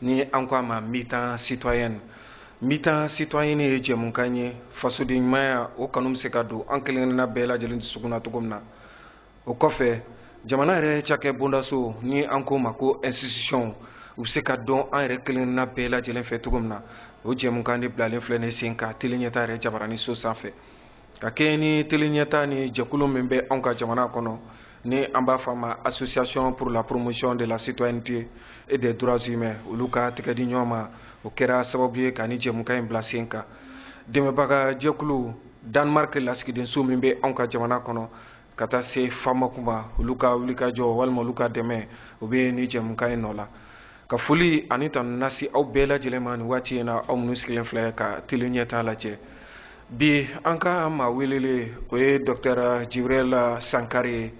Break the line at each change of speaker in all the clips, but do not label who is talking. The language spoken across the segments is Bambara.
ni an ko a ma mi-temps citoyenne mi-temps citoyenne ye jɛmukan ye fasoden ɲumanya o kanu bɛ se ka don an kelenkelenna bɛɛ lajɛlen dusukun na cogo min na o kɔfɛ jamana yɛrɛ cakɛ bondasow ni an ko o ma ko institutions u bɛ se ka dɔn an yɛrɛ kelenkelenna bɛɛ lajɛlen fɛ cogo min na o jɛmukan de bilalen filɛ nin sen kan teleɲɛta yɛrɛ jabarani so sanfɛ ka kɛɲɛ ni teleɲɛta ni jɛkulu min bɛ anw ka jamana kɔnɔ ni an b'a fɔ a ma association pour la promotion de la citoyenneté et des droits humains olu ka tɛgɛ di ɲɔgɔn ma o kɛra sababu ye ka nin jɛmukan in bila sen kan dɛmɛbaga jɛkulu danemark lasigidenso min bɛ anw ka jamana kɔnɔ ka taa se famoc ma olu ka wulikajɔ walima olu ka dɛmɛ o bɛ nin jɛmukan in nɔ la ka foli ani tanu lase aw bɛɛ lajɛlen ma nin waati in na aw minnu sigilen filɛ ka teleɲɛta lajɛ bi an ka maa welelen o ye dɔktɛr jibiril sangare ye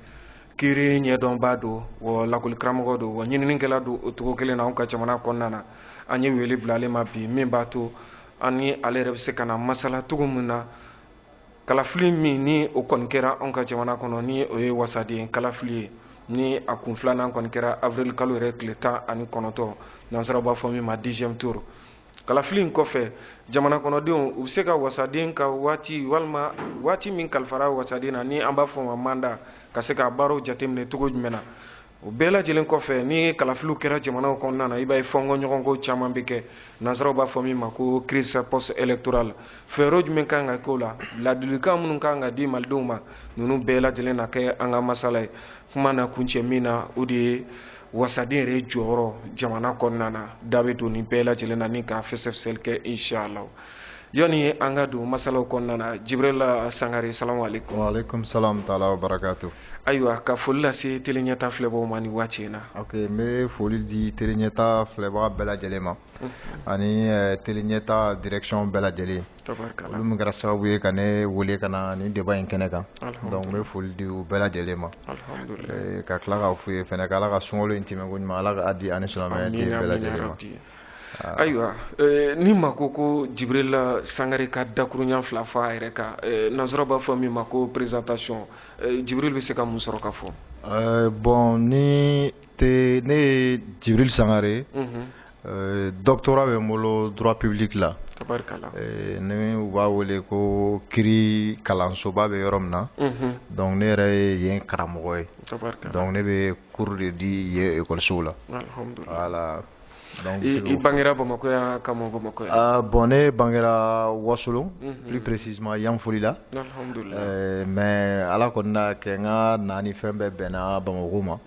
kiri ɲɛdɔnba don wa lakolikaramɔgɔ don wa ɲininikɛla don o cogo kelen na anw ka jamana kɔnɔna na an ye wele bila ale ma bi min b'a to an ni ale yɛrɛ bɛ se ka na masala cogo min na kalafili min ni o kɔni kɛra anw ka jamana kɔnɔ ni o ye wasaden kalafili ye ni a kun filanan kɔni kɛra avril kalo yɛrɛ tile tan ani kɔnɔntɔn nansara b'a fɔ min ma deuxième tour kalafili in kɔfɛ jamana kɔnɔdenw u bɛ se ka wasaden ka waati walima waati min kalifara wasaden na ni an b'a fɔ o ma mandat ka se k'a baaraw jateminɛ cogo jumɛn na o bɛɛ lajɛlen kɔfɛ ni kalafiliw kɛra jamanaw kɔnɔna na i b'a ye fɔnkɔ ɲɔgɔnko caman bɛ kɛ nansaraw b'a fɔ min ma ko crise post électorale fɛɛrɛ jumɛn kan ka k'o la ladilikan minnu kan ka di malidenw ma ninnu bɛɛ lajɛlen na kɛ an ka masala ye kuma na kuncɛ min na o de ye wasaden yɛrɛ jɔyɔrɔ jamana kɔnɔna na da bɛ don nin bɛɛ lajɛlen na ni k'a fɛsɛfɛsɛli kɛ inshallah yani an ka don masalaw kɔnɔna na jibiril sangare salamu aleykum waaleykum salam
taala wa barakatu ayiwa ka foli
lase teleɲɛta filɛbaaw ma nin waati in na ok n bɛ foli
di teleɲɛta filɛbaga bɛɛ lajɛlen ma mhm. ani eh, teleɲɛta direction bɛɛ lajɛlen olu min kɛra sababu ye ka ne wele ka na nin débat in kɛnɛ kan donc n bɛ foli di u bɛɛ lajɛlen ma eh, ka tila k'a f'u ye fɛnɛ ko ala ka sunkalo in tɛmɛko ɲuman ala ka a di an ni silamɛya den bɛɛ lajɛlen ma
ayiwa eh, ni maa ko ko jibiril sangare ka dakurunya fila fɔ a yɛrɛ kan eh, nansara b'a fɔ min ma ko présentation eh, jibiril bɛ se ka mun sɔrɔ k'a fɔ bon ni
te ne ye jibiril sangare mhm. doctorat bɛ n bolo droit public la ni u b'a wele ko kiri kalansoba bɛ yɔrɔ min na mhm. donc ne yɛrɛ ye yen karamɔgɔ ye donc ne bɛ cours de di yen ekɔlisow la voilà
i bangera bamakɔ yan ka mɔ bamakɔ yan ah, bon ne
bangera wasulun mhm. plus précisément yanfolila euh, mais ala kɔni na kɛ n ka na ni fɛn bɛɛ bɛnna bamakɔ ma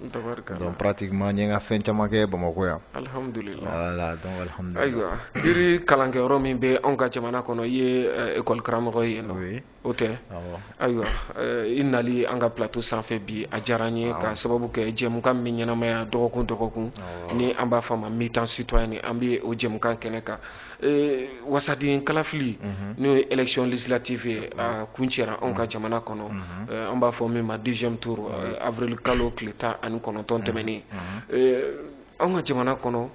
donc pratiquement n ye n ka fɛn caman kɛ bamakɔ yan voilà donc alhamdulillah ayiwa kiiri
kalankɛyɔrɔ min bɛ anw ka jamana kɔnɔ i ye école euh, karamɔgɔ ye yen nɔ O tɛ ayiwa i nali an ka plateau sanfɛ bi a diyara n ye ka sababu kɛ jɛmukan min ɲɛnamaya dɔgɔkun dɔgɔkun ni an b'a fɔ ma mi-temps citoyen an bɛ o jɛmukan kɛnɛ kan wasaden kalafili n'o ye élection législative ye a kuncɛra anw ka jamana kɔnɔ an b'a fɔ min ma deuxième tour avril kalo tile tan ani kɔnɔntɔn tɛmɛnen an ka jamana kɔnɔ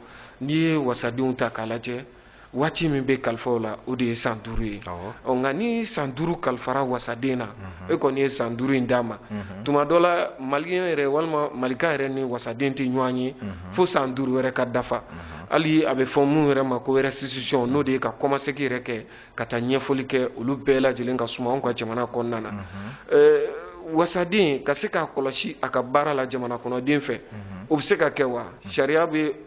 n'i ye wasadenw ta k'a lajɛ waati min bɛ kalifa o la o de ye san duuru ye ɔ nka ni san duuru kalifara wasaden na e kɔni ye san duuru in d'a ma tuma dɔ la maliyɛn yɛrɛ walima malika yɛrɛ ni wasaden tɛ ɲɔgɔn ye fo san duuru wɛrɛ ka dafa hali a bɛ fɔ min yɛrɛ ma ko restitution n'o de ye ka kɔmasegin yɛrɛ kɛ ka taa ɲɛfɔli kɛ olu bɛɛ lajɛlen ka suma anw ka jamana kɔnɔna na wasaden ka se k'a kɔlɔsi a ka baara la jamana kɔnɔden fɛ o bɛ se ka kɛ wa sariya sunba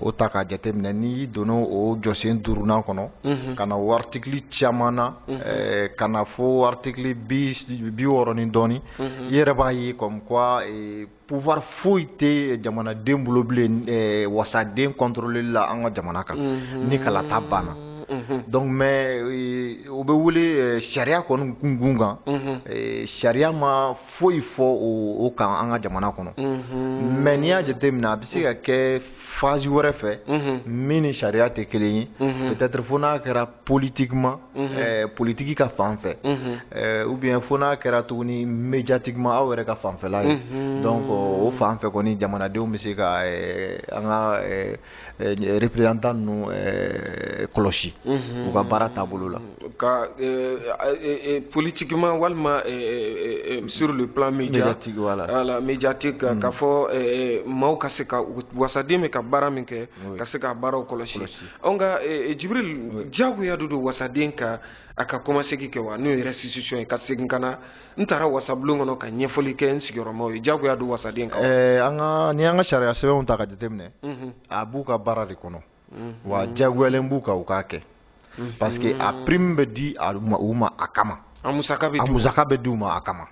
o ta k'a jateminɛ n'i donna o jɔsen duurunan kɔnɔ ka na o article caman na ka na fo article biwɔɔrɔ ni dɔɔnin i yɛrɛ b'a ye comme quoi pouvoir foyi tɛ jamanaden bolo bilen wasaden contrôler la an ka jamana kan ni kalata banna donc mais o bɛ wele sariya kɔni kun kan sariya ma foyi fɔ o kan an ka jamana kɔnɔ mais n'i y'a jateminɛ a bɛ se ka kɛ phase wɛrɛ fɛ min ni sariya tɛ kelen ye peut-être fo n'a kɛra politiquement politiki ka fan fɛ ou bien fo n'a kɛra tuguni médiatiquement aw yɛrɛ ka fanfɛla ye donc o fan fɛ kɔni jamanadenw bɛ se ka an ka représentant ninnu kɔlɔsi u ka baara taabolo la
ka politiquement walima sur le plan médiatique voilà médiatique ka fɔ maaw ka se ka wasaden bɛ ka baara min kɛ ka se ka baaraw kɔlɔsi nka jibril jagoya don don wasaden kan a ka kɔmasegin kɛ wa n'o ye restitution ye ka segin ka na n taara wasabulon kɔnɔ ka ɲɛfɔli kɛ n sigiyɔrɔmaw ye jagoya don wasaden kan eh, an ka ni an
ka sariya sɛbɛnw ta ka jateminɛ mhm. a b'u ka baara de kɔnɔ mhm. wa jagoyalen b'u kan u k'a kɛ mhm. parce que a prime bɛ di u ma a kama a musaka bɛ di u ma a kama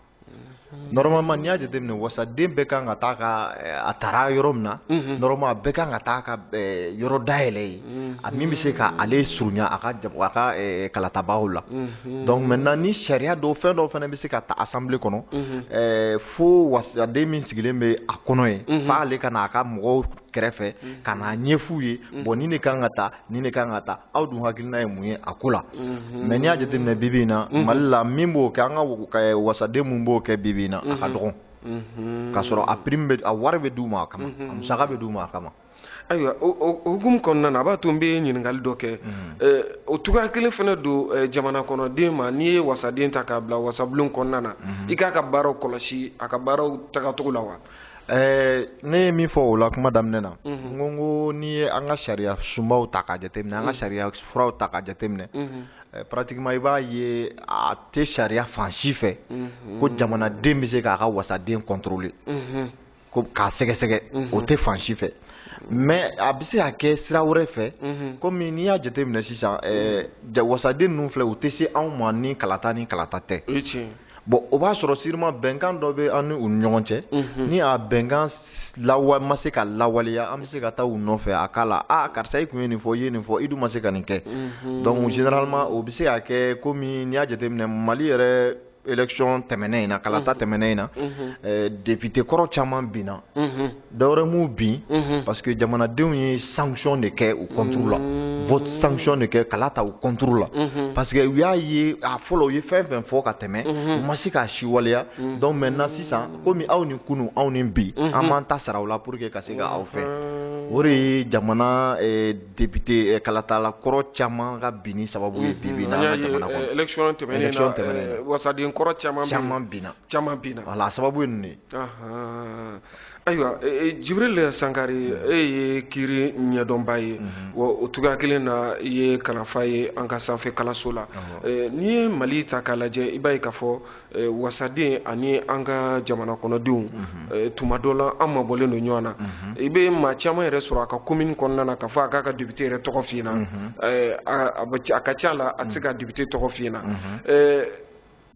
normalement n'i y'a jateminɛ wasaden bɛɛ kan ka taa ka eh, a tara yɔrɔ min na normalement a bɛɛ kan ka taa ka eh, yɔrɔ dayɛlɛ yen a min bɛ se ka ale surunya a ka a ka kalatabaaw la donc maintenant ni sariya dɔw fɛn dɔw fana bɛ se ka ta assemblée kɔnɔ fo wasaden min sigilen bɛ a kɔnɔ yen f'ale ka na a ka mɔgɔw kɛrɛfɛ ka n'a ɲɛf'u ye bon nin de kan ka ta nin de kan ka ta aw dun hakilina ye mun ye a ko la mais n'i y'a jateminɛ bi bi in na Mali la min b'o kɛ an ka wasaden min b'o kɛ bi bi in na a ka dɔgɔn k'a sɔrɔ a prime bɛ a wari bɛ d'u ma a kama a musaka bɛ d'u ma a kama ayiwa
hukumu kɔnɔna na a b'a to n bɛ ɲininkali dɔ kɛ mm-hmm. o cogoya kelen fana don jamana kɔnɔden ma n'i ye wasaden ta k'a bila wasabulon kɔnɔna na mm-hmm. i k'a ka baaraw kɔlɔsi a ka baaraw tagacogo la wa Eh,
ne ye min fɔ o la kuma daminɛ na mhm. n ko n ko n'i ye an ka sariya sunbaw ta k'a jateminɛ an ka mhm. sariya furaw ta k'a jateminɛ mhm. eh, pratiquement i b'a ye a tɛ sariya fan si fɛ ko jamanaden bɛ se k'a ka wasaden contrôler ko k'a sɛgɛsɛgɛ o tɛ fan si fɛ mais a bɛ se ka kɛ sira wɛrɛ fɛ komi n'i y'a jateminɛ sisan wasaden ninnu filɛ u tɛ se anw ma ni kalata ni kalata tɛ bon o b'a sɔrɔ sûrement bɛnkan dɔ bɛ an ni u ɲɔgɔn cɛ ni a bɛnkan ma se ka lawaleya an bɛ se ka taa u nɔfɛ a k'a la aa karisa i tun ye nin fɔ i ye nin fɔ i dun ma se ka nin kɛ donc généralement o bɛ se ka kɛ komi n'i y'a jateminɛ Mali yɛrɛ élection tɛmɛnen in na kalata mhm. tɛmɛnen in na mhm. eh, député kɔrɔ caman binna mhm. dɔwɛrɛ m'u bin parce que jamanadenw ye sanction de kɛ u contre la vote sanction de kɛ kala ta u contre la parce que u y'a ye a fɔlɔ u ye fɛn fɛn fɔ ka tɛmɛ u ma se k'a si waleya donc maintenant sisan komi aw ni kunu anw ni bi an b'an ta sara u la pour que ka se ka aw fɛ o de ye jamana eh, député kalatala kɔrɔ caman ka binni sababu ye
bi élection tɛmɛnen na wasaden kɔrɔ caman caman binna caman binna voilà a sababu ye ninnu ye ayiwa Jibril Sangare e ye kiri ɲɛdɔnba ye wa o cogoya kelen na i ye kalanfa ye an ka sanfɛkalanso la n'i ye Mali ta k'a lajɛ i b'a ye k'a fɔ Eh, wasaden ani an ka jamana kɔnɔdenw mhm. eh, tuma dɔ la an mabɔlen don ɲɔgɔn na mhm. i bɛ maa caman yɛrɛ sɔrɔ a ka commune kɔnɔna na k'a fɔ a k'a ka député yɛrɛ tɔgɔ f'i ɲɛna mhm. eh, a ka ca la a tɛ se ka député tɔgɔ f'i ɲɛna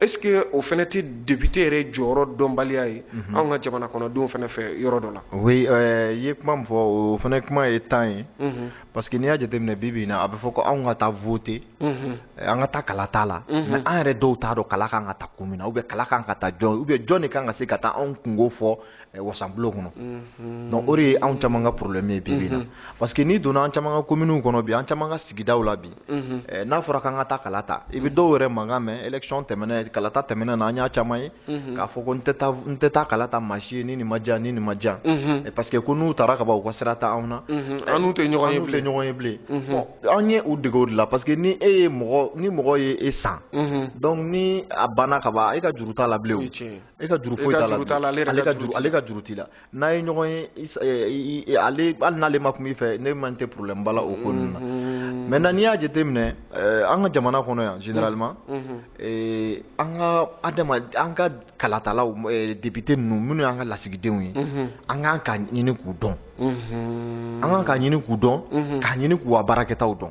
est-ce que o fana tɛ député yɛrɛ jɔyɔrɔ dɔnbaliya ye anw ka jamana kɔnɔdenw fana fɛ yɔrɔ dɔ la. oui i ye
kuma min fɔ o fana kuma ye can ye. parce que n'i y'a jateminɛ bi bi in na a bɛ fɔ ko anw ka taa voter eh, an ka taa kala t'a la mais an yɛrɛ dɔw t'a dɔn kala kan ka ta kun min na ou bien kala kan ka ta jɔn ou bien jɔn de kan ka se ka taa anw kunko fɔ eh, wasanbulon kɔnɔ donc o de ye anw caman ka problème ye bi bi in na parce que n'i donna an caman ka communes kɔnɔ bi an caman ka sigidaw la bi Mhm. Eh, n'a fɔra k'an ka taa kala ta i bɛ mhm. dɔw yɛrɛ mankan mɛn élection tɛmɛnen kalata tɛmɛnen na an y'a caman ye mhm. k'a fɔ ko n tɛ taa n tɛ taa kala ta maa si ye ni nin ma diya ni nin ma diya eh, parce que ko n'u taara ka ban u ka sira tɛ anw na eh, an n'u tɛ ɲɔgɔn
ye bilen ɲɔgɔn ye bilen an ye
u dege o de la parce que ni e ye mɔgɔ ni mɔgɔ ye e san donc ni a banna ka ban e ka juru t'a la bilen o e ka juru foyi t'a la ale ka juru t'i la n'a ye ɲɔgɔn ye ale hali n'ale ma kuma i fɛ ne man tɛ problème ba la o ko ninnu na maintenant n'i y'a jateminɛ an ka jamana kɔnɔ yan généralement an ka adama an ka kalatalaw député ninnu minnu y'an ka lasigidenw ye an kan k'a ɲini k'u dɔn an kan k'a ɲini k'u dɔn k'a ɲini k'u ka baarakɛtaw dɔn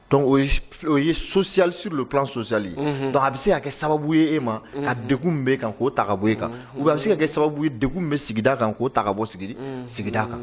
donc o ye o ye social sur le plan social ye mhm. donc a bɛ se ka kɛ sababu ye e ma mhm. ka degun min b'e kan k'o ta ka bɔ e kan mhm. ou bien a bɛ se ka kɛ sababu ye degun min bɛ sigida kan k'o ta ka bɔ sigidi sigida kan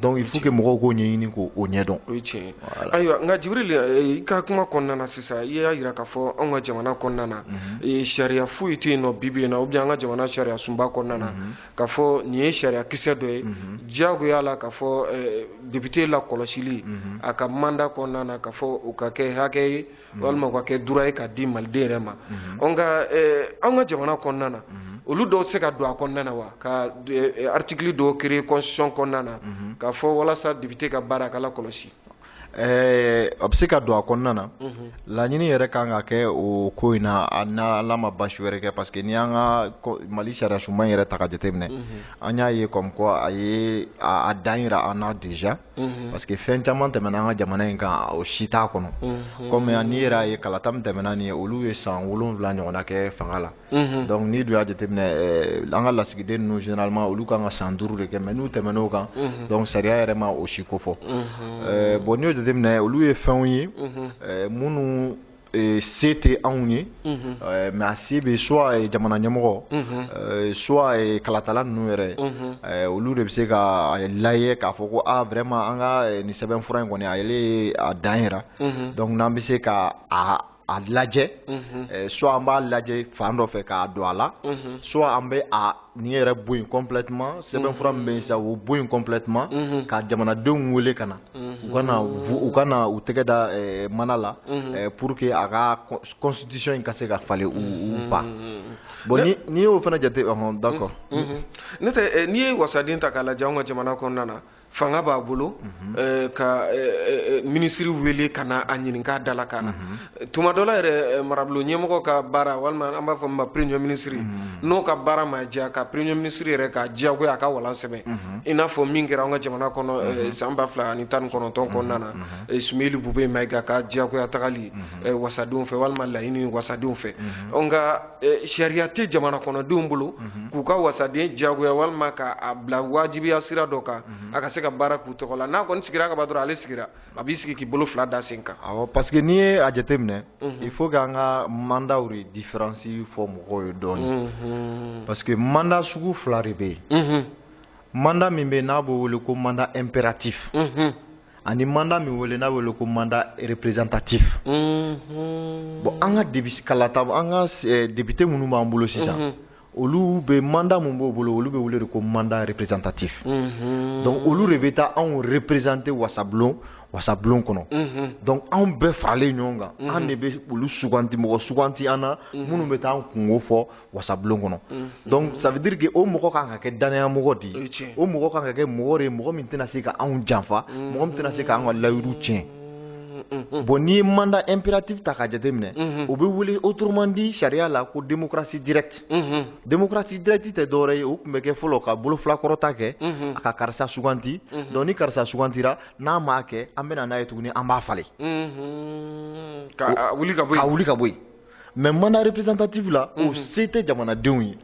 donc il faut que mɔgɔw k'o ɲɛɲini k'o o ɲɛdɔn o ye tiɲɛ ye
ayiwa nka jibirili eh, i ka kuma kɔnɔna na sisan i y'a jira k'a fɔ anw ka jamana kɔnɔna na eh, sariya foyi tɛ yen nɔ bi bi in na ou bien an ka jamana sariya sunba kɔnɔna na k'a fɔ nin ye sariya kisɛ dɔ ye mhm. diyagoya la k'a fɔ eh, député lakɔlɔsili mhm. a ka mandat kɔnɔna na k'a fɔ o ka kɛ hakɛ ye mhm. walima o ka kɛ droit ye k'a di maliden yɛrɛ ma nka eh, an ka jamana kɔnɔna na olu dɔw se ka don a kɔnɔna na wa ka eh, article dɔw créer constitution kɔnɔna na k'a fɔ walasa député ka baara a ka lakɔlɔsi
Ɛɛ a bɛ se ka don a kɔnɔna na laɲini yɛrɛ ka kan ka kɛ o ko in na n'Ala ma basi wɛrɛ kɛ parce que ni an ka Mali sariya sunba yɛrɛ ta k'a jateminɛ an y'a ye comme quoi a ye a dan jira an na déjà parce que fɛn caman tɛmɛna an ka jamana in kan o si t'a kɔnɔ comme n'i yɛrɛ y'a ye kalata min tɛmɛna nin ye olu ye san wolonwula ɲɔgɔnna kɛ fanga la donc n'i dun y'a jateminɛ an ka lasigiden ninnu généralement olu kan ka san duuru de kɛ mais n'u tɛmɛna o kan donc sariya yɛrɛ ma o si ko fɔ bon n'i y'o jateminɛ olu ye fɛnw ye minnu se tɛ anw ye mais a se bɛ soit jamana ɲɛmɔgɔ soit kalatala ninnu yɛrɛ olu de bɛ se k'a lajɛ k'a fɔ ko vraiment an ka nin sɛbɛnfura in kɔni a y'a dan yira donc n'an bɛ se ka a lajɛ soit an b'a lajɛ fan dɔ fɛ k'a don a la soit an bɛ nin yɛrɛ bɔ yen complètement sɛbɛnfura min bɛ sa o bɔ yen complètement ka jamanadenw wele ka na u ka na u ka na u tɛgɛ da mana la pour que a ka constitution in ka se ka falen ou pas bon n'i y'o fana jate d'accord
n'o tɛ n'i ye wasaden ta k'a lajɛ an ka jamana kɔnɔna na fanga b'a bolo mhm. eh, ka eh, eh, minisiri wele ka na a ɲininka dalakan na mhm. tuma dɔ la yɛrɛ marabolo ɲɛmɔgɔ ka baara walima an b'a fɔ min ma premier minisiri mhm. n'o ka baara ma diya ka premier minisiri yɛrɛ k'a diyagoya a ka walan sɛbɛn i n'a fɔ min kɛra an ka jamana kɔnɔ san ba fila ani tan ni kɔnɔntɔn kɔnɔna na sumeyili bube mayiga ka diyagoya tagali wasadenw fɛ walima laɲini wasadenw fɛ nka Eh, sariya tɛ jamana kɔnɔdenw bolo mhm. k'u ka wasaden diyagoya walima k'a bila wajibiya sira dɔ kan mhm. a ka se ka baara k'u tɔgɔ la n'a kɔni sigira ka ban dɔrɔn ale sigira a b'i sigi k'i bolo fila da sen kan awɔ parce que n'i ye a
jateminɛ mhm. il faut k'an ka mandaw de différence fɔ mɔgɔw ye dɔɔnin parce que manda sugu fila de bɛ yen manda min bɛ yen n'a b'o wele ko mandat impératif ani manda min wele n'a bɛ wele ko mandat représentatif mhm. bon an ka debisi kalata an ka eh, député minnu b'an bolo sisan mhm. olu bɛ manda min b'u bolo olu bɛ wele de ko mandat représentatif mhm. donc olu de bɛ taa anw représenter wasablon wasablon kɔnɔ donc anw bɛɛ faralen ɲɔgɔn kan an de bɛ olu suganti mɔgɔ suganti an na minnu bɛ taa an kunko fɔ wasabulon kɔnɔ mm-hmm. donc ça veut dire que o mɔgɔ kan ka kɛ danaya mɔgɔ de ye o mɔgɔ kan ka kɛ mɔgɔ de ye mɔgɔ min tɛna se ka anw janfa mm-hmm. mɔgɔ min tɛna se ka an ka layiru tiɲɛ mm-hmm. bon n'i ye mandat impératif ta k'a jateminɛ o bɛ wele autrement dit sariya la ko démocratie directe démocratie directe tɛ dɔwɛrɛ ye o tun bɛ kɛ fɔlɔ ka bolofilakɔrɔta kɛ a ka karisa suganti donc ni karisa sugantira n'a m'a kɛ an bɛ na n'a ye tuguni an b'a falen
ka wuli ka bɔ yen ka wuli ka bɔ yen
mais mandat représentatif la o mhm. se tɛ jamanadenw ye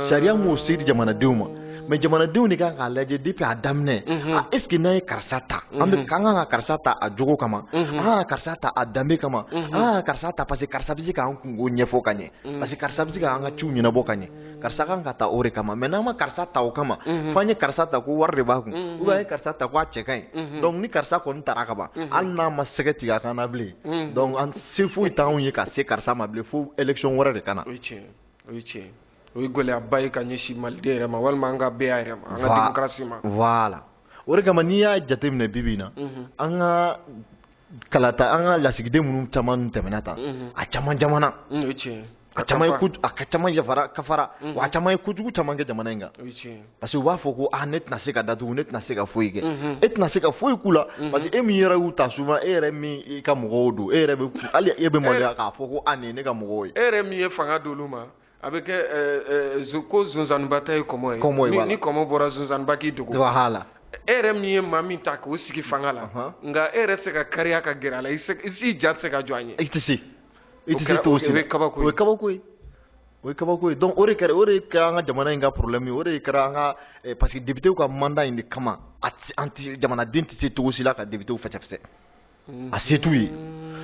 sariya m'o se di jamanadenw ma mais jamanadenw de kan k'a lajɛ depuis a daminɛ mhm. a est-ce que n'an ye karisa ta an bɛ mhm. kan ka karisa ta a jogo kama an kan ka karisa ta a danbe kama an kan ka karisa ta parce que karisa bɛ se k'an kunko ɲɛfɔ ka ɲɛ parce que karisa bɛ se k'an ka ciw ɲɛnabɔ ka ɲɛ karisa kan ka ta o de kama mais n'an ma karisa ta o kama mhm. fo an ye karisa ta ko wari de b'a kun mhm. ou bien an ye karisa ta ko a cɛ ka ɲi mhm. donc ni karisa kɔni tara ka ban hali n'a ma sɛgɛ tigɛ a kan na bilen donc an se foyi t'anw ye ka se karisa ma bilen fo élection wɛrɛ de ka na o ye tiɲɛ o
ye tiɲɛ o ye gɛlɛyaba ye ka ɲɛsin maliden yɛrɛ ma walima an ka bɛɛya yɛrɛ ma an ka démocratie ma voilà
o de kama n'i y'a jateminɛ bi bi in na an ka kalata an ka lasigiden minnu caman tɛmɛna tan a caman jamana
a
ka caman y'a fara ka fara wa a caman ye kojugu caman kɛ jamana in kan parce que u b'a fɔ ko ne tɛna se ka datugu ne tɛna se ka foyi kɛ e tɛna se ka foyi k'u la parce que e min yɛrɛ y'u ta souvent e yɛrɛ min i ka mɔgɔw don e yɛrɛ e bɛ maloya k'a fɔ ko nin ye ne ka mɔgɔw ye e yɛrɛ min ye fanga
d'olu ma a bɛ kɛ ɛɛ ɛɛ ko zonzanniba ta ye kɔmɔ ye. kɔmɔ ye voilà ni kɔmɔ bɔra zonzanniba k'i dogo. voilà. e
yɛrɛ min ye
maa min ta k'o sigi fanga la. nka e yɛrɛ tɛ se ka kariya ka gɛrɛ a la i se i ja tɛ se ka jɔ a ɲɛ. i tɛ se
i tɛ se cogo si la o ye kabako ye o ye kabako ye. o ye kabako ye donc o de kɛra o de kɛra an ka jamana in ka problème ye o de kɛra an ka eh, parce que député ka mandat in de kama an tɛ jamanaden tɛ se cogo si la ka député fɛsɛfɛsɛ. a se t'u ye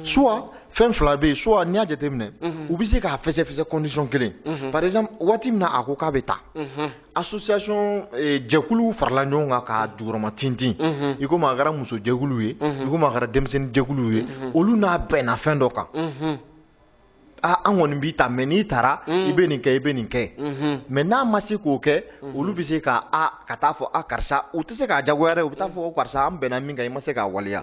soit fɛn fila bɛ yen soit n'i y'a jateminɛ u bɛ se k'a fɛsɛfɛsɛ condition kelen par exemple waati min na a ko k'a bɛ taa association eh, jɛkuluw farala ɲɔgɔn kan k'a jukɔrɔma tintin i komi a kɛra muso jɛkuluw ye i komi a kɛra denmisɛnnin jɛkuluw ye olu n'a bɛnna fɛn dɔ kan aa an kɔni b'i ta mais n'i taara i bɛ nin kɛ i bɛ nin kɛ mais n'a ma se k'o kɛ olu bɛ se ka a ka taa fɔ a karisa u tɛ se k'a jagoya dɛ u bɛ taa fɔ karisa an bɛnna min kan i ma se k'a waleya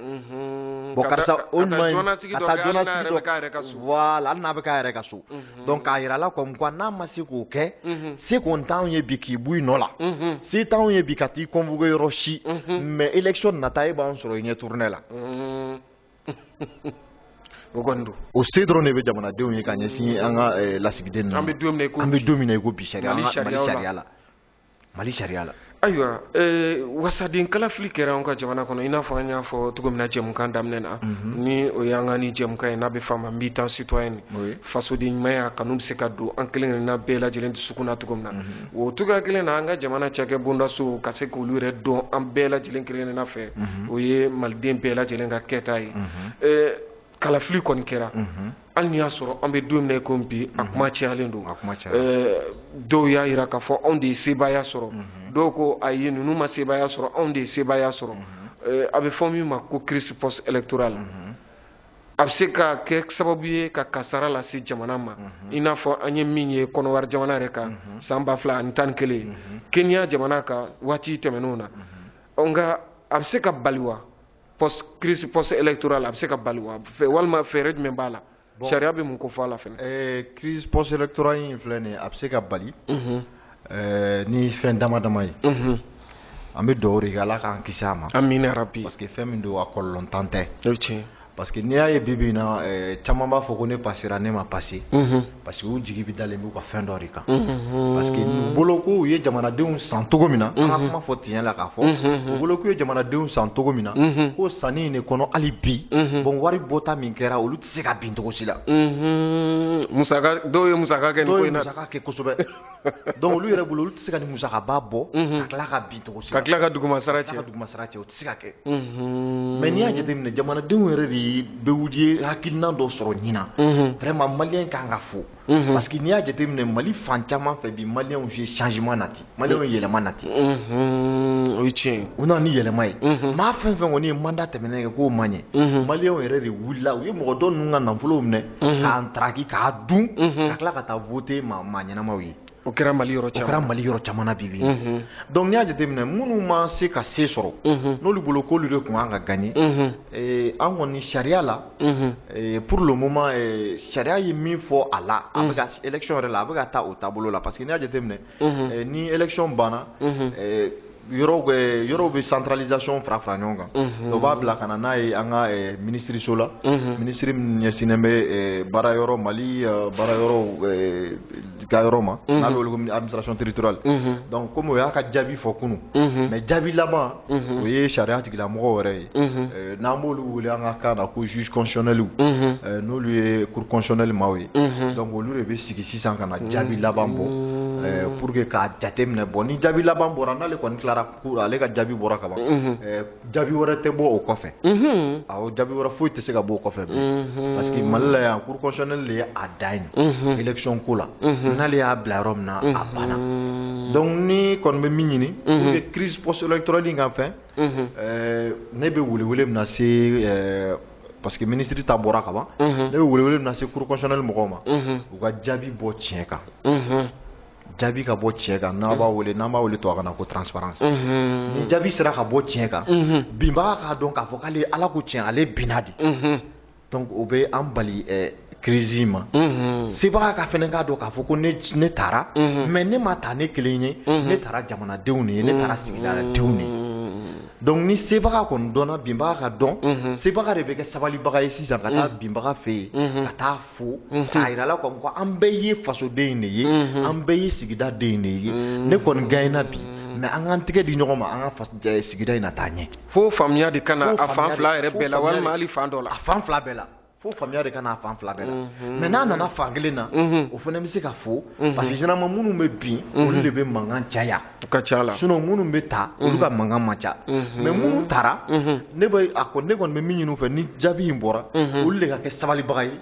bon karisa o ɲuman in ka taa jɔnnasigi dɔ voilà hali n'a bɛ k'a yɛrɛ ka so donc k'a yira a la comme quoi n'a ma se k'o kɛ se kɔni t'anw ye bi k'i bɔ i nɔ la se t'anw ye bi ka t'i convoquer yɔrɔ si mais élection nata e b'anw sɔrɔ i ɲɛ tournée la o kɔni don o se dɔrɔn de bɛ jamanadenw ye ka ɲɛsin an ka eh, lasigiden ninnu an bɛ don min na i ko bi an bɛ
don
min
na i ko bi
sariya mali sariya la mali sariya la ayiwa eh,
wasaden kalafili kɛra an ka jamana kɔnɔ i n'a fɔ an y'a fɔ cogo min na jɛmukan daminɛ na mhm. ni o y'an ka nin jɛmukan ye n'a bɛ f'a ma mbi tan citoyen fasoden ɲumanya kanu bɛ se ka don an kelen kelenna bɛɛ lajɛlen dusukun na cogo min na mhm. o cogoya kelen na an ka jamana cakɛ bondasow ka se k'olu yɛrɛ dɔn an bɛɛ lajɛlen kelenna fɛ mhm. o ye maliden bɛɛ lajɛlen ka kɛta ye mhm. eh, kalafili kɔni kɛra mhm. hali n'i y'a sɔrɔ an bɛ don min na ko bi a kuma cayalen don eh, dɔw y'a jira k'a fɔ anw de ye sebaaya sɔrɔ dɔw ko ayi ninnu ma sebaaya sɔrɔ anw de ye sebaaya sɔrɔ eh, a bɛ fɔ min ma ko crise post électorale a bɛ se ka kɛ sababu ye ka kasara lase jamana ma mhm. i n'a fɔ an ye min ye kɔnɔwari jamana yɛrɛ kan mhm. san ba fila ani tan ni kelen mhm. kenya jamana kan waati tɛmɛnenw na nka a bɛ se ka bali wa post crise post électorale a bɛ se ka bali wa walima fɛɛrɛ jumɛn b'a la sariya bɛ mun ko fɔ a la fɛnɛ crise post électorale
in filɛ nin ye a bɛ se ka bali Ɛɛ ni fɛn dama dama ye an bɛ dugawu de kɛ ala k'an kisi a ma amina yarabi parce
que fɛn min don a
kɔlɔlɔntan tɛ parce
que n'i y'a ye bi
bi in na caman b'a fɔ ko ne passera ne ma passer parce que u jigi bɛ dalen b'u ka fɛn dɔ de kan parce que u bolo ko u ye jamanadenw san cogo min na an ka kuma fɔ tiɲɛ la k'a fɔ u bolo k'u ye jamanadenw san cogo min na ko sanni in de kɔnɔ hali bi bon wari bɔta min kɛra olu tɛ se ka bin cogo si la. musaka
dɔw ye musaka kɛ nin ko in na. dɔw ye musaka kɛ
kosɛbɛ donc olu yɛrɛ bolo olu tɛ se ka nin musakaba bɔ. ka tila ka bin cogo si la. ka tila ka dugumasara cɛ. ka
tila ka dugumasara cɛ o tɛ se ka
kɛ. mais n'i y'a jateminɛ jamanadenw yɛrɛ de bɛ wuli hakilina dɔ sɔrɔ ɲinan. vraiment malien ka kan ka fo. Mhm. parce que n'i y'a jateminɛ mali fan caman fɛ bi maliyɛnw ye changement nati maliyɛnw ye yɛlɛma nati mhm.
o ye tiɲɛ ye u nana ni yɛlɛma ye
mhm. maa fɛn fɛn kɔni ye manda tɛmɛnen kɛ k'o ma ɲɛ maliyɛnw yɛrɛ de wulila u ye mɔgɔ dɔ ninnu ka nafolow minɛ k'a ntaraki k'a dun ka tila ka taa voter maa ɲɛnamaw ye o kɛra
mali yɔrɔ caman na bi bi mhm. donc n'i y'a jateminɛ minnu ma se ka se sɔrɔ mhm. n'olu bolo k'olu de tun kan ka gagner mhm. eh, an kɔni sariya la eh, pour le moment eh, sariya ye min fɔ a la a bɛ ka élection yɛrɛ la a bɛ ka taa o taabolo la parce que n'i y'a jateminɛ ni élection banna yɔrɔw bɛ centralisation fara fara ɲɔgɔn kan mhm. dɔ b'a bila ka na n'a ye an ka eh, minisiriso la mhm. minisiri min ɲɛsinnen bɛ eh, baara yɔrɔ mali eh, baara yɔrɔw ka yɔrɔ ma mhm. n'a bɛ wele ko administration territoriale donc komi o y'a ka jaabi fɔ kunun mais jaabi laban o ye sariya tigilamɔgɔ wɛrɛ ye n'an b'olu wele an ka kan na ko juge constitutionnel n'olu ye cour constitutionnelle maaw ye donc olu de bɛ sigi sisan ka na jaabi laban
bɔ pour que k'a jate minɛ bɔ ni jaabi laban bɔra n'ale kɔni tilara ale ka jaabi bɔra ka ban jaabi wɛrɛ tɛ bɔ o kɔfɛ awɔ jaabi wɛrɛ foyi tɛ se ka bɔ o kɔfɛ bilen parce que Mali la yan cour constitutionnelle de ye a dan ye élection ko la n'ale y'a bila yɔrɔ min na a banna donc ne kɔni bɛ min ɲini pour que crise post électorale in ka fɛn ne bɛ welewele min na se parce que minisiri ta bɔra ka ban ne bɛ welewele min na se cour constitutionnelle mɔgɔw ma u ka jaabi bɔ tiɲɛ kan jaabi ka bɔ tiɲɛ kan n'an b'a wele n'an b'a wele tubabukan na ko transparence ni jaabi sera ka bɔ tiɲɛ kan binbaga k'a dɔn k'a fɔ k'ale ala ko tiɲɛ ale binna de donc o bɛ an bali crise in ma sebaga ka fɛnɛ k'a dɔn k'a fɔ ko ne taara mais ne ma taa ne kelen ye ne taara jamanadenw de ye ne taara sigidaladenw de ye donc ni sebaga kɔni dɔnna binbaga ka dɔn mhm. sebaga de bɛ kɛ sabalibaga ye sisan ka taa mhm. binbaga fɛ yen mhm. ka taa fo k'a yira la comme quoi an bɛɛ ye fasoden de ye an bɛɛ ye sigida den de ye ne kɔni gaɲɛna bi mais an k'an tɛgɛ di ɲɔgɔn ma an ka sigida in na taa ɲɛ fo faamuya de ka
na a fan fila yɛrɛ bɛɛ la walima hali fan dɔ la a fan fila bɛɛ la
fo faamuya de ka n'a fan fila bɛɛ la mhm. mais n'a nana fan kelen na mhm. o fana bɛ se ka fo mhm. parce que généralement minnu bɛ bin olu de bɛ mankan caya u ka ca la sinon
minnu bɛ
taa olu ka mankan man ca mais minnu taara ne bɛ ne kɔni bɛ min ɲini u fɛ ni jaabi in bɔra olu de ka kɛ sabalibaga ye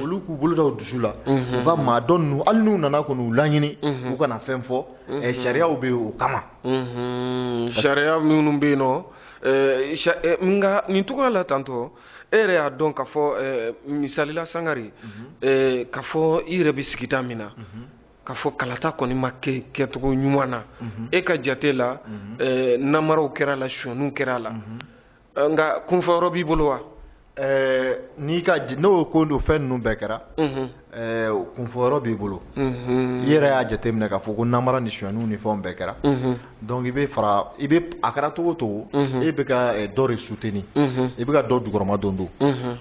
olu k'u bolo da u dusu la u ka maa dɔ ninnu hali n'u nana kɔni u laɲini u kana fɛn fɔ eh, sariyaw bɛ yen o kama
sariya minnu bɛ yen nɔ eh, eh, nka nin cogoya la tantɔ e yɛrɛ y'a dɔn k'a fɔ eh, misali la sangare mhm. eh, k'a fɔ i yɛrɛ bɛ sigida min na mhm. k'a fɔ kalata kɔni ma kɛ kɛcogo ɲuman na mhm. e ka jate la eh, namaraw kɛra la sonyaniw kɛra la nka kunfɔyɔrɔ b'i bolo wa n'i ka
n'o ko don fɛn ninnu bɛɛ kɛra Ɛɛ o kunfɔ yɔrɔ b'i bolo i yɛrɛ y'a jateminɛ k'a fɔ ko namara ni sonyaniw ni fɛn bɛɛ kɛra donc i bɛ fara i bɛ a kɛra cogo o cogo e bɛ ka dɔ de soutenir i bɛ ka dɔ jukɔrɔma don don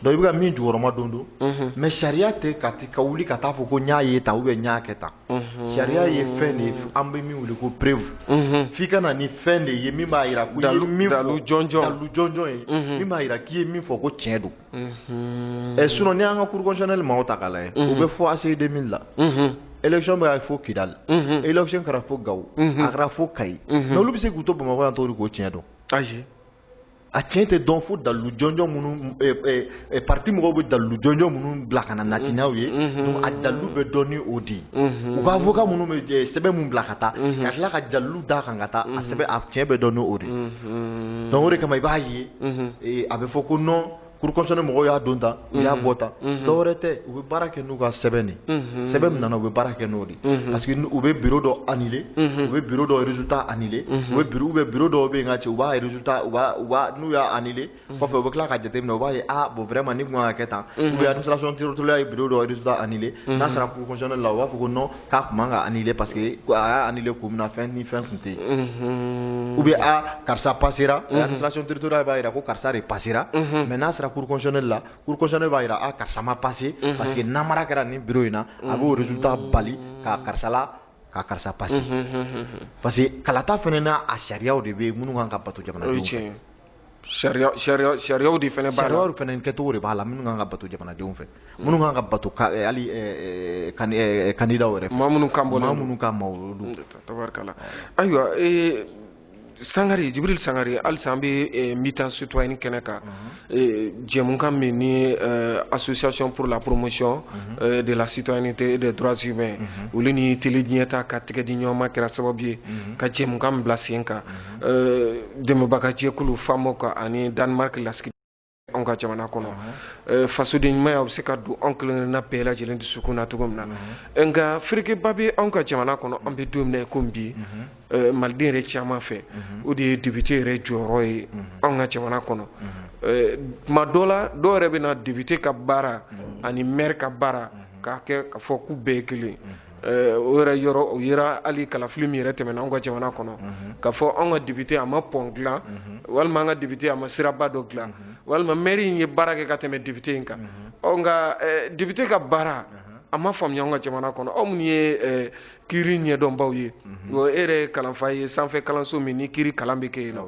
donc i bɛ ka min jukɔrɔma don don mais sariya tɛ ka ka wuli ka taa a fɔ ko n y'a ye tan ou bien n y'a kɛ tan sariya ye fɛn de ye an bɛ min wele ko preuve f'i ka na ni fɛn de ye min b'a jira ko i ye min fɔ dalilu jɔnjɔn ye min b'a jira k'i ye min fɔ ko tiɲɛ don ɛ sinon ni an ka cour constitutionnelle maaw ta k'a lajɛ u bɛ fo ACI 2000 la élection bɛ fo kidali élection kɛra fo gawo a kɛra fo kayi mais olu bɛ se k'u to bamakɔ yan tɔgɔ k'o tiɲɛ dɔn ayi
a tiɲɛ
tɛ dɔn fo dalilu jɔnjɔn minnu parti mɔgɔw bɛ dalilu jɔnjɔn minnu bila ka na nati n'aw ye a dalilu bɛ dɔn ni o de ye u ka avocat minnu bɛ sɛbɛn minnu bila ka taa ka tila ka dalilu d'a kan ka taa a sɛbɛn a tiɲɛ bɛ dɔn ni o de ye donc o de kama i b'a ye ye a bɛ fɔ ko nɔn kurusɔni mɔgɔw y'a don ta u y'a bɔ ta dɔw tɛ u bɛ baara kɛ n'u ka sɛbɛn de sɛbɛn min nana u bɛ baara kɛ n'o de parce que u bɛ bi dɔ an u bɛ bi dɔwta ani u bɛ bi dɔw bɛ yen ka cɛ u b'a n'u y'a ani kɔfɛ u bɛ tila ka jate min u b'a ye bon wɛrɛ ma ni ɲɔgɔn kɛ tan u bɛ sɔntola ye bi dɔwta ani n'a sɔrɔ kuruɛ la u b'a fɔ ko k'a tun man ka annuler parce que a y'a annuler kun min na fɛn ni fɛn tun tɛ yen ou bien a karisa passera administration territoriale b'a jira ko karisa de passera mais n'a sera cour constitutionnelle la cour constitutionnelle b'a jira a karisa ma passer parce que namara kɛra nin bureau in na a b'o résultat bali ka karisa la ka karisa passer parce que kalata fana n'a a sariyaw de bɛ yen minnu kan ka bato jamanadenw fɛ.
sariyaw de fana b'a la sariyaw fana kɛcogo de b'a
la minnu kan ka bato jamanadenw fɛ minnu kan ka bato hali kandidaw yɛrɛ fɛ maa minnu kan bɔ maa minnu
kan ma olu don
tabarikala
ayiwa sangare jibril sangare halisa an bɛ militant citoyen kɛnɛ kan jɛmukan min ni association pour la promotion de la citoyenneté et des droits humains olu ni tele ɲɛtaa ka tigɛ di ɲɔgɔn ma kɛra sababu ye ka jɛmukan min bila sen kan euh, dɛmɛbaga jɛkulu FAMOC ani danemark lasigiden anw ka jamana kɔnɔ euh, fasodenɲumanya bɛ se ka don anw kelenkelenna bɛɛ lajɛlen dusukun na cogo min na euh, nka ferekeba bɛ anw ka jamana kɔnɔ an bɛ don min na komi bi maliden yɛrɛ caman fɛ o de ye depite yɛrɛ jɔyɔrɔ ye anw ka jamana kɔnɔ tuma dɔ la dɔw yɛrɛ bɛ na depite ka baara ani mɛri ka baara k'a kɛ k'a fɔ k'u bɛɛ ye kelen Eh, o yɛrɛ yɔrɔ o yera hali kalafili min yɛrɛ tɛmɛna anw ka jamana kɔnɔ mhm. k'a fɔ anw ka depite a ma pɔn dilan mhm. walima an ka depite a ma siraba dɔ dilan mhm. walima mɛri in ye baara kɛ ka tɛmɛ depite in kan nka eh, depite ka baara a ma faamuya anw ka jamana kɔnɔ aw minnu ye eh, kiiri ɲɛdɔnbaw ye o e yɛrɛ kalanfa ye sanfɛ kalanso min ni kiiri kalan bɛ kɛ yen nɔ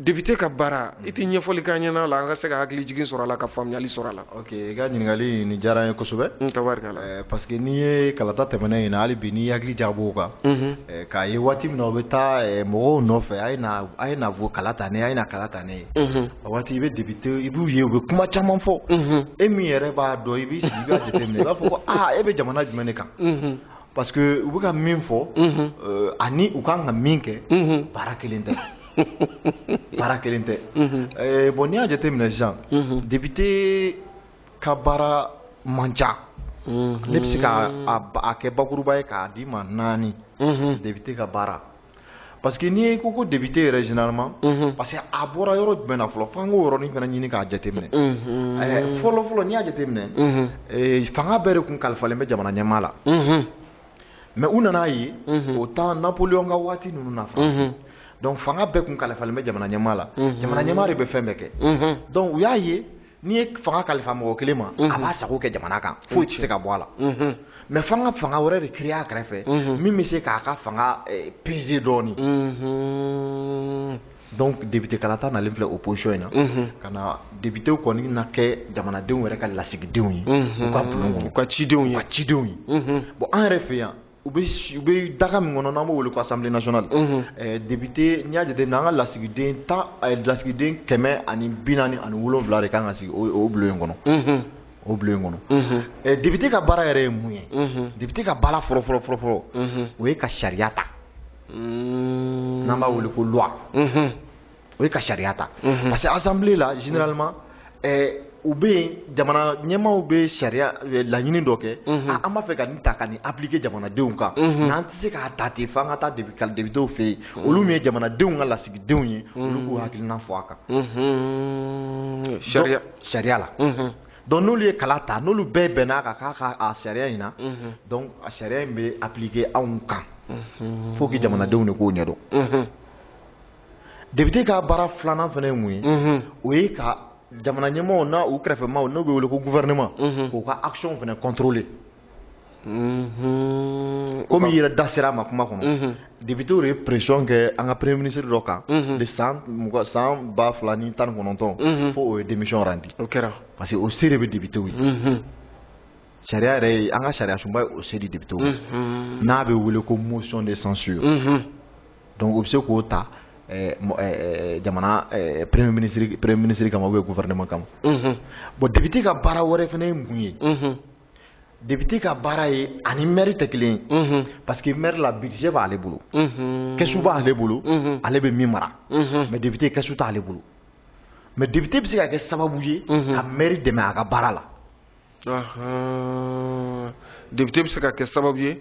député ka baara i tɛ ɲɛfɔli ka ɲɛna la an ka se ka hakili jigin sɔrɔ a la ka faamuyali sɔrɔ a la ok i ka
ɲininkali nin diyara n ye kosɛbɛ tabarikala eh, parce que
n'i ye
kalata tɛmɛnen in na hali bi n'i hakili jagab'o kan mhm. eh, k'a ye waati min na u bɛ taa eh, mɔgɔw nɔfɛ a ye na a ye na fɔ kala ta ne a ye na kala ta ne ye mhm. a waati i bɛ député i b'u ye u bɛ kuma caman fɔ mhm. e min yɛrɛ b'a dɔn i b'i sigi i b'a jateminɛ i b'a fɔ ko aa ah, e bɛ jamana jumɛn de kan parce que u bɛ ka min fɔ ani u kan ka min kɛ baara kelen tɛ baara kelen tɛ eh, bon n'i y'a jate minɛ sisan député ka baara man ca ne bɛ se k'a kɛ bakuruba ye k'a d'i ma naani député ka baara parce que n'i ko ko député yɛrɛ généralement mhm. parce que a bɔra yɔrɔ jumɛn na fɔlɔ f'an k'o yɔrɔnin fana ɲini k'a jateminɛ mhm. eh, fɔlɔ fɔlɔ n'i y'a jateminɛ mhm. eh, fanga bɛɛ de kun kalifalen bɛ jamana ɲɛmaa la mais u nan'a ye au temps Napoléon ka waati ninnu na France donc fanga bɛɛ kun kalifalen bɛ jamana ɲɛmaa la jamana ɲɛmaa de bɛ fɛn bɛɛ kɛ donc u y'a ye n'i ye fanga kalifa mɔgɔ kelen ma a b'a sago kɛ jamana kan foyi tɛ se ka bɔ a la mais f'an ka fanga wɛrɛ de créer a kɛrɛfɛ min bɛ se k'a ka fanga peser dɔɔnin Donc député kalata nalen filɛ opposition in na, unhun, ka na députés kɔni na kɛ jamanadenw yɛrɛ ka lasigidenw ye, unhun, u ka bulon kɔnɔ, u ka cidenw ye, u ka cidenw ye, unhun, bon an yɛrɛ fɛ yan u bɛ u bɛ daga min kɔnɔ n'an b'o wele ko assemblée nationale, unhun, ɛɛ député n'i y'a jateminɛ an ka lasigiden tan lasigiden kɛmɛ ani bi naani ani wolonwula de kan ka sigi o bulon in kɔnɔ, unhun, o bulon in kɔnɔ, unhun, ɛ député ka baara yɛrɛ ye mun ye, unhun, député ka baara fɔlɔ fɔlɔ fɔlɔ o ye ka sariya ta mm. n'an b'a wele ko loi mm-hmm. o ye ka sariya ta mm-hmm. parce que assemblée la généralement eh, u bɛ yen jamana ɲɛmaaw bɛ sariya eh, laɲini dɔ kɛ mm-hmm. ah, an b'a fɛ ka nin ta ka nin appliquer jamanadenw kan nka an tɛ se k'a ta ten f'an ka taa députéw fɛ yen olu min ye jamanadenw ka lasigidenw ye olu k'u hakilina fɔ a kan sariya la donc n'olu ye kala ta n'olu bɛɛ bɛnn'a kan k'a ka a sariya in na donc a sariya in bɛ appliquer anw kan faut que jamanadenw de k'o ɲɛdɔn député ka baara filanan fana ye mun ye o ye ka jamana ɲɛmaaw n'u kɛrɛfɛmaaw n'o bɛ wele ko gouvernement k'u ka action fana contrôler Mhm. komi i yɛrɛ da sera a ma kuma kɔnɔ mhm. députéw de ye pression kɛ an ka premier ministre dɔ kan mhm. de san mugan san ba fila ni tan ni kɔnɔntɔn fo o ye démission randi o kɛra parce que o se de bɛ députéw ye sariya yɛrɛ ye an ka sariya sunba ye o se di députéw n'a bɛ wele ko motion de censure donc u bɛ se k'o ta eh, eh, eh, jamana premier ministre premier ministre kama ou bien gouvernement kama bon député ka baara wɛrɛ fana ye mun ye. député ka baara ye ani maire tɛ kelen ye parce que maire la budget b'ale bolo kɛsu b'ale bolo ale bɛ min mara mais député kɛsu t'ale bolo mais député bɛ se ka kɛ sababu ye ka maire dɛmɛ a ka baara
la député bɛ se ka kɛ sababu ye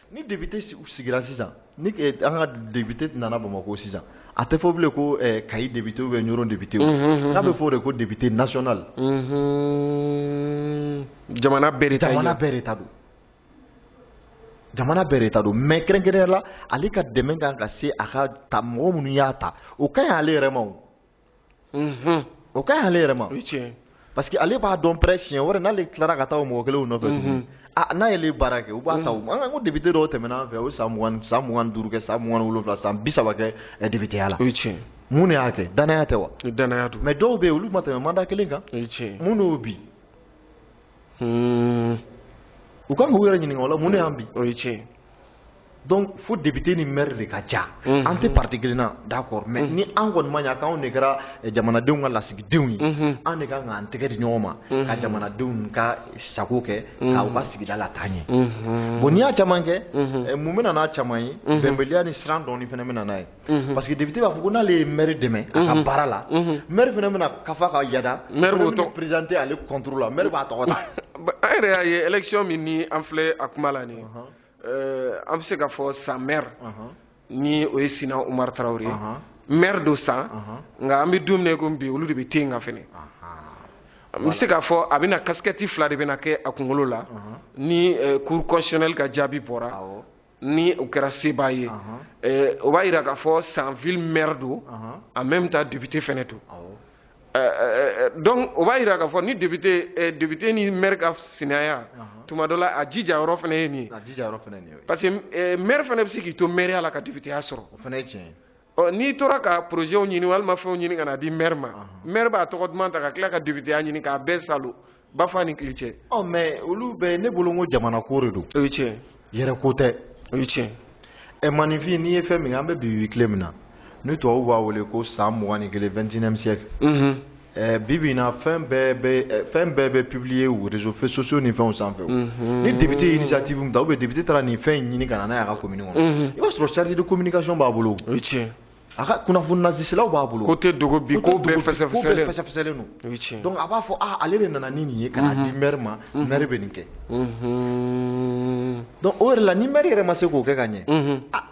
ni député sigira sisan ni eh, an ka député nana bamakɔ sisan a tɛ fɔ bilen ko eh, kayi député ou bien ɲɔrɔ député mhm, mhm, mhm. nka a bɛ fɔ de ko député national
jamana bɛɛ de ta jamana bɛɛ de ta
don jamana bɛɛ de ta don mais kɛrɛnkɛrɛnya la ale ka dɛmɛ kan ka se a ka ta mɔgɔ minnu y'a ta o ka ɲi ale yɛrɛ ma o unhun o ka ɲi ale yɛrɛ ma o ye tiɲɛ ye parce que ale b'a dɔn pɛrɛ siɲɛ wɛrɛ n'ale tilara ka taa o mɔgɔ kelenw nɔfɛ tuguni a n'a y'ale baara kɛ u b'a ta u ma an ka ko député dɔw tɛmɛna an fɛ o ye san mugan san mugan ni duuru kɛ san mugan ni wolonwula san bi saba kɛ eh, députéya la o ye tiɲɛ ye mun de y'a kɛ danaya tɛ wa ni danaya don mais
dɔw bɛ yen olu ma
tɛmɛ mandat kelen kan o ye tiɲɛ ye mun de y'o bi Hmm, u kan k'u yɛrɛ ɲininka o la mun de y'an bi o ye tiɲɛ ye Donc fo député ni maire de ka ja an tɛ parti kelen na d'accord mais ni an kɔni ma ɲina k'anw de kɛra jamanadenw ka lasigidenw ye an de kan k'an tɛgɛ di ɲɔgɔn ma ka jamanadenw ka sago kɛ k'u ka sigida lataa ɲɛ bon n'i y'a caman kɛ mun bɛ na n'a caman ye bɛnbaliya ni siran dɔɔni fana bɛ na n'a ye Mhm. Parce que député b'a fɔ ko n'ale ye maire dɛmɛ a ka mhm. baara la mhm. maire fana bɛna kafa ka yada maire b'o présenter ale contre la maire b'a tɔgɔ ta an yɛrɛ y'a ye
élection min ni an filɛ a kuma la nin euh, an bɛ se k'a fɔ San maire ni o ye Sina Umar Traoré ye maire don San nka an bɛ don min na ko bi olu de bɛ ten kan fɛnɛ n bɛ se k'a fɔ a bɛna casquette fila de bɛna kɛ a kunkolo la ni euh, cour constitutionnelle ka jaabi bɔra ni o kɛra sebaa ye eh, o b'a jira k'a fɔ San ville maire don en même temps député fɛnɛ don eh, eh, donc o b'a jira k'a fɔ ni député député ni maire ka sinaya tuma dɔ la a jija yɔrɔ fɛnɛ ye nin ye parce que maire fɛnɛ bɛ se k'i to maireya la ka députéya sɔrɔ o fɛnɛ ye tiɲɛ ye ɔ n'i tora ka projetw ɲini walima fɛnw ɲini ka na di maire ma maire b'a tɔgɔ duman ta ka tila ka députéya ɲini k'a bɛɛ salo bafa ni kili cɛ ɔ mais olu bɛɛ
ne bolo ko jamana ko de don o ye tiɲɛ
yɛrɛ ko
tɛ o ye
tiɲɛ ɛ maaninfin n'i ye
fɛn min an bɛ bi tile min na ni tubabuw b'a wele ko san mugan ni kelen 21e siècle Eh, bi bi in na fɛn bɛɛ bɛ eh, fɛn bɛɛ bɛ publier u réseaux sociaux ni fɛnw sanfɛ mhm. ni député ye initiative min ta ou bien député taara nin fɛn in ɲini ka na n'a ye a ka commune kɔnɔ mhm. i b'a sɔrɔ chargé de communication b'a bolo o ye tiɲɛ
a ka kunnafoni
laselaw b'a bolo ko tɛ dogo bi ko
bɛɛ fɛsɛfɛsɛlen don o
ye tiɲɛ donc a b'a
fɔ ah ale
de nana ni nin ye ka na mhm. di maire ma maire bɛ nin kɛ donc o yɛrɛ la ni maire yɛrɛ ma se k'o kɛ ka ɲɛ ah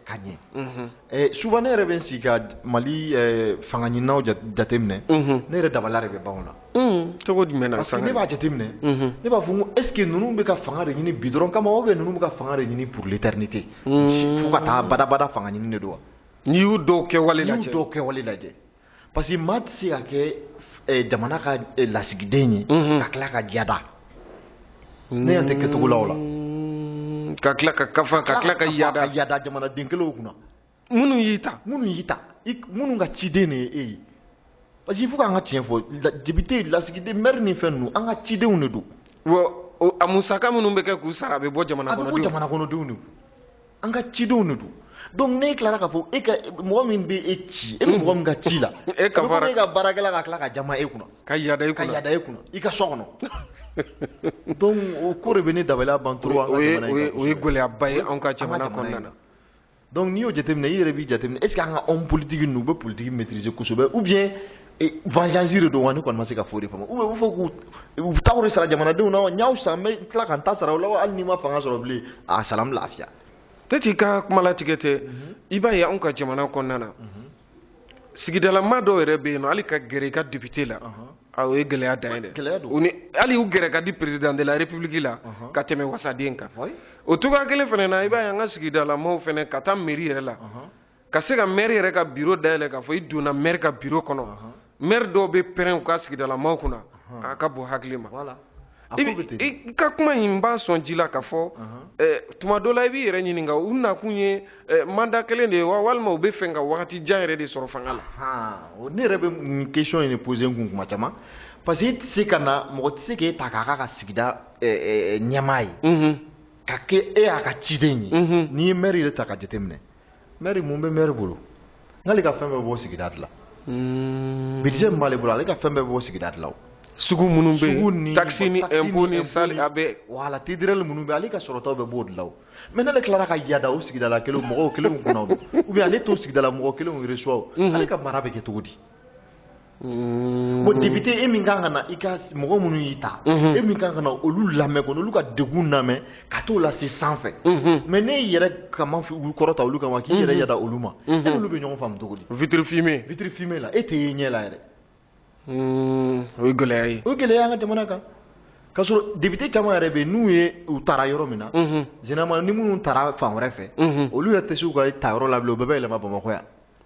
ka ɲɛ mhm. eh, souvent ne yɛrɛ bɛ n sigi ka mali eh, fanga ɲininaw jateminɛ mhm. ne yɛrɛ dabaliya de bɛ ban o la mhm. cogo jumɛn na parce que ne
b'a jateminɛ
ne b'a fɔ n ko est ce que ninnu bɛ ka fanga de ɲini bi dɔrɔn kama ou bien ninnu bɛ ka fanga de ɲini pour l'éternité fo ka taa badabada fanga ɲini de don wa n'i y'u dɔw
kɛwale lajɛ n'i y'u dɔw kɛwale
lajɛ parce que maa tɛ se ka kɛ eh, jamana ka eh, lasigiden ye mhm. ka tila ka yada ne yan tɛ kɛcogo la o la mm, ka
tila ka kafa ka tila ka yada ka yada jamanaden
kelenw kunna minnu y'i
ta minnu y'i ta
minnu ka ciden de ye e ye parce que il faut k'an ka tiɲɛ fɔ depite lasigiden mɛri ni fɛn ninnu an ka cidenw de don a
musaka minnu bɛ kɛ k'u sara a bɛ bɔ jamana kɔnɔdenw a bɛ bɔ jamana kɔnɔdenw de kun
an ka cidenw de don donc n'e tilara k'a fɔ e ka mɔgɔ min bɛ e ci e bɛ mɔgɔ min ka ci la e ka baara e ka baarakɛla ka tila ka jama e kunna ka yada e kunna ka yada e
kunna i ka so kɔnɔ
donc o ko de bɛ ne dabaliya ban trop an ka jamana in o ye gɛlɛyaba ye
anw
ka
jamana kɔnɔna na donc n'i y'o
jateminɛ i yɛrɛ b'i jateminɛ est ce que an ka homme politique ninnu u bɛ politique maîtriser kosɛbɛ ou bien vanzansi de don wa ne kɔni ma se ka foyi de faamu u fɔ k'u u taw de sara jamanadenw na wa n y'aw san n bɛ tila ka n ta sara u la wa hali n'i ma fanga sɔrɔ bilen a sara n lafiya. peut-être i ka
kuma latigɛ tɛ mhm. i b'a ye anw ka jamana kɔnɔna na mhm. sigidalama dɔw yɛrɛ bɛ yen nɔ hali ka gɛrɛ i ka depite la a o ye gɛlɛya dan ye dɛ u ni hali u gɛrɛ ka di perezidan de la repibuliki la ka tɛmɛ wasaden kan o cogoya kelen fana na i b'a ye an ka sigidalamaw fana ka taa meri yɛrɛ la. ka se ka maire yɛrɛ ka bureau dayɛlɛ k'a fɔ i donna maire ka bureau kɔnɔ maire dɔw bɛ pɛrɛn u ka sigidalamaw kunna a ka bon hakili ma i ka kuma in b'a sɔn ji la k'a fɔ tuma dɔ la i b'i yɛrɛ ɲininka u nakun ye mandat kelen de ye wa walima u bɛ fɛ ka wagati jan yɛrɛ de sɔrɔ fanga la ne yɛrɛ bɛ
nin question in de poser n kun kuma caman parce que i tɛ se ka na mɔgɔ tɛ se k'e ta k'a k'a ka sigida ɲɛmaa ye ka kɛ e y'a ka ciden ye n'i ye maire yɛrɛ ta ka jateminɛ mɛri mun bɛ mɛri bolo n'ale ka fɛn bɛɛ b'o sigida de la hmm. bidize min b'ale bolo ale ka fɛn bɛɛ b'o sigida de la o sugu minnu bɛ
yen takisi ni ɛnpo ni saalen a bɛ wala tidirɛli
minnu bɛ ale ka sɔrɔtaw bɛɛ b'o de la o mɛ n'ale tilara ka yada o sigidala kelenw mɔgɔw kelenw kunna o ou bien ale t'o sigidala mɔgɔ kelenw resuwa o ale ka mara bɛ kɛ cogo di bon député e min kan ka na i ka mɔgɔ minnu y'i ta e min kan ka na olu lamɛn ka n'olu ka degun lamɛn ka t'o lase sanfɛ mais n'e y'i yɛrɛ kama olu kɔrɔta olu kama k'i yɛrɛ yada olu ma e n'olu bɛ ɲɔgɔn faamu cogo di vitre fumée vitre
fumée la e tɛ ye ɲɛ
la
yɛrɛ o ye gɛlɛya ye o ye gɛlɛya an ka jamana
kan k'a sɔrɔ député caman yɛrɛ bɛ yen n'u ye u tara yɔrɔ min na généralement ni minnu tara fan wɛrɛ fɛ olu yɛrɛ tɛ se u ka ta yɔrɔ la bilen u bɛɛ bɛ yɛlɛma bamakɔ yan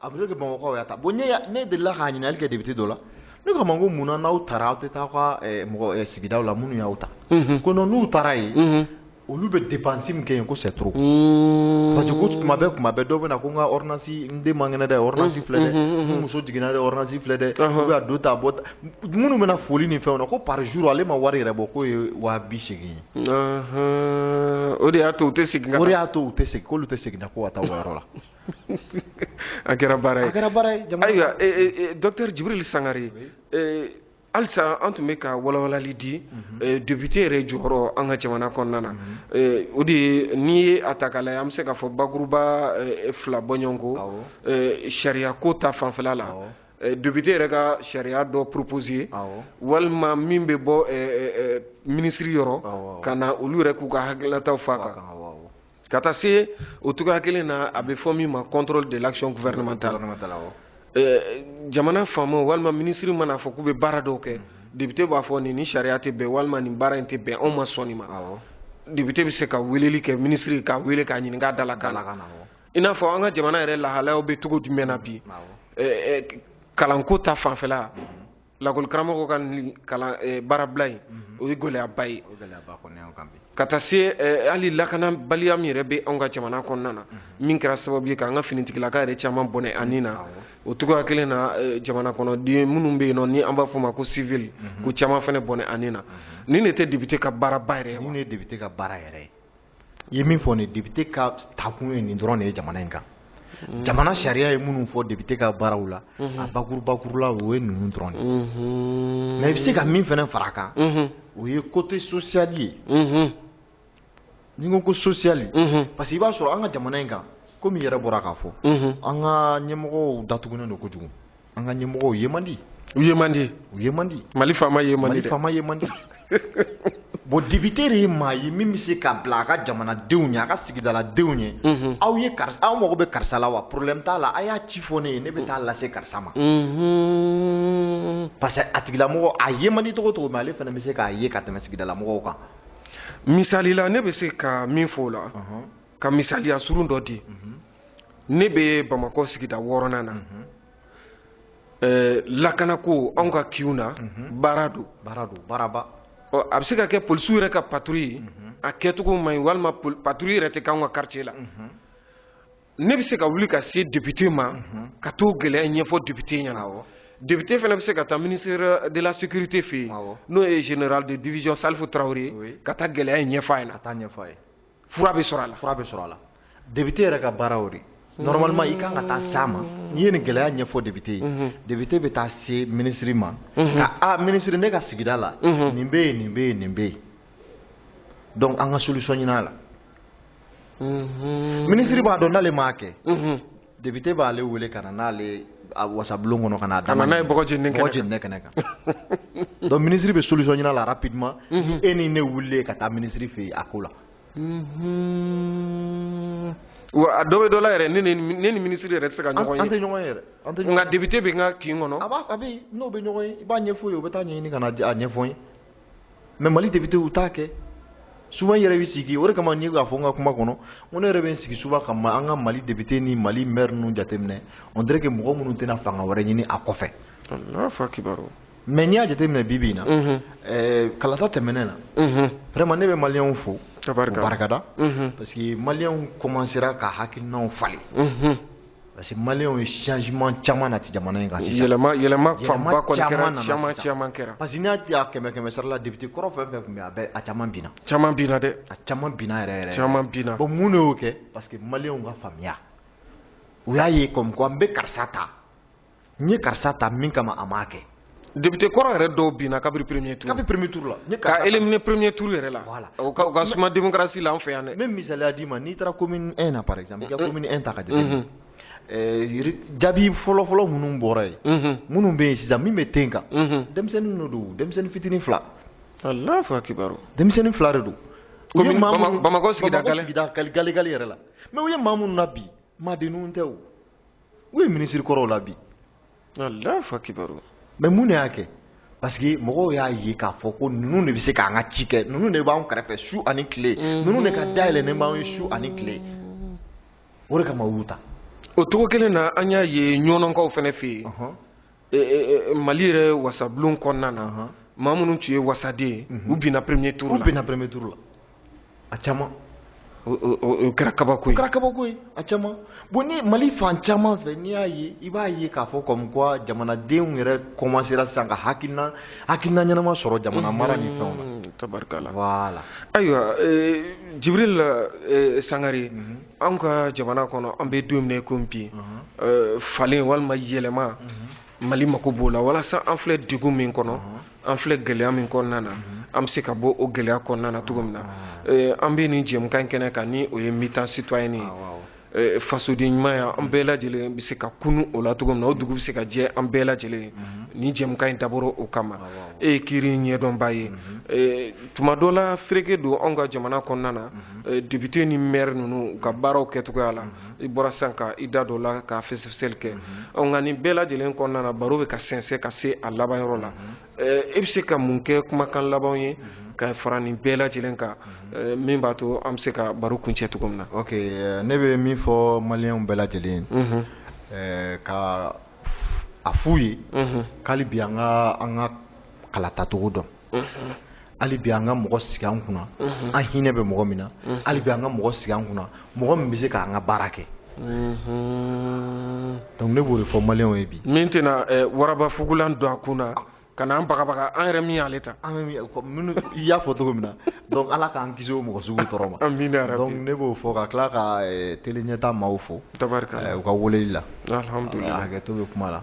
a bɛ se ka kɛ bamakɔkaw y'a ta bon ne ne delila k'a ɲininkali kɛ député dɔ la ne ko a ma ko mun na n'aw taara aw tɛ taa aw ka eh, mɔgɔ eh, sigidaw la minnu y'aw ta mhm. ko non n'u taara yen mhm. olu bɛ dépense min kɛ yen ko c'est trop mhm. parce que ko tuma bɛɛ tuma bɛɛ dɔw bɛ na ko n ka ordonnance n den man kɛnɛ dɛ ordonnance filɛ dɛ n muso jiginna dɛ ordonnance filɛ dɛ ou bien a donta a bɔta minnu bɛ na foli ni fɛnw na ko par jour ale ma wari yɛrɛ bɔ k'o ye waa bi seegin ye
o de y'a to u tɛ segin ka o de y'a to u tɛ segin
k'olu tɛ segin na ko ka taa o yɔrɔ la
a kɛra baara ye a kɛra baara ye ayiwa eh, eh, eh, docteur Djibril Sangare halisa an tun bɛ ka walawalali di mhm. député yɛrɛ jɔyɔrɔ an ka jamana kɔnɔna na mhm. o de ye n'i ye a ta k'a lajɛ an bɛ se k'a fɔ bakuruba fila bɔɲɔgɔnko sariyako ta fanfɛla la Eh, député yɛrɛ ka sariya dɔ proposer walima min bɛ bɔ eh, eh, minisiri yɔrɔ ka na olu yɛrɛ k'u ka hakilinataw f'a kan ka taa se o cogoya kelen na a bɛ fɔ min ma contrôle de l'action gouvernementale jamana faamaw walima minisiri mana fɔ k'u bɛ baara dɔw kɛ député b'a fɔ nin ni sariya tɛ bɛn walima nin baara in tɛ bɛn anw ma sɔn nin ma député bɛ se ka weleli kɛ minisiri k'a wele k'a ɲininka a da la k'a la i n'a fɔ an ka jamana yɛrɛ lahalayaw bɛ cogo jumɛn na bi kalanko ta fanfɛla lakɔli karamɔgɔ ka nin kalan eh, baarabila in mhm. o ye gɛlɛyaba ye ka taa se eh, hali lakanabaliya min yɛrɛ bɛ anw ka jamana kɔnɔna na mhm. min kɛra sababu ye k'an ka finitigilaka yɛrɛ caman bɔnɛ a ni na o cogoya kelen na eh, jamana kɔnɔden minnu bɛ yen nɔ ni an b'a fɔ ma ko civil mhm. k'o caman fana bɔnɛ a ni na nin de tɛ député ka baaraba yɛrɛ ye wa nin de ye député ka baara yɛrɛ ye ye min fɔ nin député ka taakun ye nin dɔrɔn de ye jamana in kan mm. jamana sariya ye minnu fɔ député ka baaraw la mm-hmm. a bakuru bakurula o ye ninnu dɔrɔn de mm-hmm. mais i bɛ se ka min fana fara a kan mm-hmm. o ye côté social ye n'i ko ko social parce que i b'a sɔrɔ an ka jamana in kan komi i yɛrɛ bɔra k'a fɔ an ka ɲɛmɔgɔw datugunen don kojugu an ka ɲɛmɔgɔw ye man di u ye man di u ye man di mali faama ye man di mali faama ye man di bon député de ye maa ye min bɛ se ka bila a ka jamanadenw ɲɛ a ka sigidaladenw ɲɛ mhm. aw ye karisa aw mago bɛ karisa la wa problème t'a la a y'a ci fɔ ne ye ne bɛ taa lase karisa ma mhm. parce que a tigilamɔgɔ a ye man di cogo cogo mais ale fana bɛ se k'a ye ka tɛmɛ sigidalamɔgɔw kan misali la ne bɛ se ka min fɔ o la ka misaliya surun dɔ di mhm. ne bɛ bamakɔ sigida wɔɔrɔnan na mhm. eh, lakanako anw ka kinw na mhm. baara don baara don baaraba a bɛ se ka kɛ polisiw yɛrɛ ka patrouille a kɛcogo man ɲi walima patrouille yɛrɛ tɛ k'anw ka quartier la ne bɛ se ka wuli ka se député ma ka t'o gɛlɛya ɲɛfɔ député ɲɛna awɔ député fana bɛ se ka taa ministère de la sécurité fɛ yen n'o ye général de division Salif Traoré ka taa gɛlɛya in ɲɛfɔ a ɲɛna ka t'a ɲɛfɔ a ye fura bɛ sɔrɔ a la fura bɛ sɔrɔ a la député yɛrɛ
ka baara o de normalement i kan ka taa s'a ma n'i ye nin gɛlɛya ɲɛfɔ député ye mhm. député bɛ taa se minisiri ma mhm. ka a minisiri ne ka sigida la mhm. nin bɛ yen nin bɛ yen nin bɛ yen donc an ka solution ɲinin a la minisiri b'a dɔn n'ale m'a kɛ député b'ale wele ka na n'ale a wasabulon kɔnɔ ka n'a da n'a ye bɔgɔ jeninen kɛnɛ kan bɔgɔ
jeninen kɛnɛ
kan donc ministre bɛ solution ɲini a la rapidement ni e ni ne wulilen ka taa ministre fɛ yen a ko la.
wa a dɔ bɛ dɔ la yɛrɛ ne ni ne ni ministre yɛrɛ tɛ se ka ɲɔgɔn ye an tɛ ɲɔgɔn ye yɛrɛ an tɛ
ɲɔgɔn ye nka député bɛ n
ka kin kɔnɔ a b'a a bɛ yen n'o bɛ
ɲɔgɔn ye i b'a ɲɛfɔ o ye o bɛ taa ɲɛɲini ka na a ɲɛfɔ n ye. mais mali député u t'a kɛ souvent yɛrɛ bɛ sigi o de kama n ye k'a fɔ n ka kuma kɔnɔ ko ne yɛrɛ bɛ n sigi souvent ka an ka mali député ni mali mɛri ninnu jateminɛ on dirait que mɔgɔ minnu tɛna fanga wɛrɛ ɲini a kɔfɛ mais n'i y'a jateminɛ bi bi in na kalata tɛmɛnen na vraiment ne bɛ maliyɛnw fo barikada parce que maliyɛnw commencera ka hakilinaw falen parce que maliyɛnw ye changement caman nati jamana in kan sisan yɛlɛma yɛlɛma
fanba kɔni kɛra caman caman kɛra parce que n'i y'a kɛmɛ
kɛmɛ sara la député kɔrɔ fɛn fɛn tun bɛ a bɛɛ a caman binna caman binna dɛ
a
caman binna yɛrɛ yɛrɛ caman binna bon
mun de y'o kɛ
parce que maliyɛnw ka faamuya u y'a ye comme quoi n bɛ karisa ta n ye karisa ta min kama a m'a kɛ député kɔrɔ
yɛrɛ dɔw binna kabiri premier tour kabiri premier tour la
ka éliminer
premier tour yɛrɛ la voilà o ka, o ka suma démocratie la an fɛ yan dɛ même misaliya d'i ma n'i taara
commune 1 na par exemple i ka commune 1 ta ka jateminɛ jaabi fɔlɔ fɔlɔ minnu bɔra yen minnu bɛ yen sisan min bɛ ten kan denmisɛnnin dɔ don denmisɛnnin fitinin fila allahu
akibaru denmisɛnnin fila de don bamakɔ sigida gale gale yɛrɛ
la mais u ye maa minnu nabin maadenninw tɛ o u ye minisiri kɔrɔw labin allahu
akibaru mais mun de y'a
kɛ parce que mɔgɔw y'a ye k'a fɔ ko ninnu de bɛ se k'an ka ci kɛ ninnu de b'an kɛrɛfɛ su ani tile mhm. ninnu de ka da yɛlɛnnen b'an ye su ani tile o de kama u y'u ta o cogo kelen
na an y'a ye ɲɔnɔkaw fana fɛ yen e, e, e, mali yɛrɛ wasabulon kɔnɔna na uh -huh. maa minnu tun ye wasaden ye uh -huh. u binna premier tour la u binna premier tour la a
caman
o kɛra kabako ye o kɛra kabako ye a caman
bon ni mali fan caman fɛ n'i y'a ye i b'a ye k'a fɔ comme quoi jamanadenw yɛrɛ commencera sisan ka hakilina hakilina ɲɛnama sɔrɔ jamana mara ni fɛnw na tabarikala voilà
ayiwa jibril sangare an ka jamana kɔnɔ an bɛ don min na i ko bi uh-huh. falen walima yɛlɛma uh-huh. mali mako b'o la walasa an filɛ degun min kɔnɔ uh-huh. an filɛ gɛlɛya min kɔnɔna na an bɛ se ka bɔ o gɛlɛya kɔnɔna na cogo min na an bɛ nin jɛmukan kɛnɛ kan ni o ye meeting citoyen ye ah, Eh, fasodenɲumanya an bɛɛ lajɛlen bɛ se ka kunun o la cogo min na o dugu bɛ se ka jɛ an bɛɛ lajɛlen mhm. nin jɛmukan in dabɔra o kama ah, e ye kiiri ɲɛdɔnba ye mhm. eh, tuma dɔ la fereke don anw ka jamana kɔnɔna na mhm. Eh, député ni maire ninnu u ka baaraw kɛcogoya la mhm. i bɔra sisan ka i da dɔ la ka fɛsɛfɛsɛli kɛ mhm. nka nin bɛɛ lajɛlen kɔnɔna na baro bɛ ka sɛnsɛn ka se a laban yɔrɔ la mhm. eh, e bɛ se ka mun kɛ kumakan labanw ye ka fara nin bɛɛ lajɛlen kan eh, min b'a to an bɛ se ka baro kuncɛ cogo min na. ok ne
bɛ min fɔ maliyɛnw bɛɛ lajɛlen ye ka a f'u ye k'hali bi an ka an ka kalatacogo dɔn. hali bi an ka mɔgɔ sigi an kunna an hinɛ bɛ mɔgɔ min na hali bi an ka mɔgɔ sigi an kunna mɔgɔ min bɛ se k'an ka baara kɛ donc ne b'o de fɔ maliyɛnw ye bi min tɛna eh,
waraba fugulan don a kun na ka n'an bagabaga an yɛrɛ min y'ale ta minnu
i y'a fɔ cogo min na donc ala k'an kisi o mɔgɔ sugu tɔɔrɔ ma amina yarabi donc ne b'o fɔ ka tila ka eh, tele ɲɛta maaw fo tabarika eh, u ka weleli la alhamdulilah hakɛto
bɛ kuma la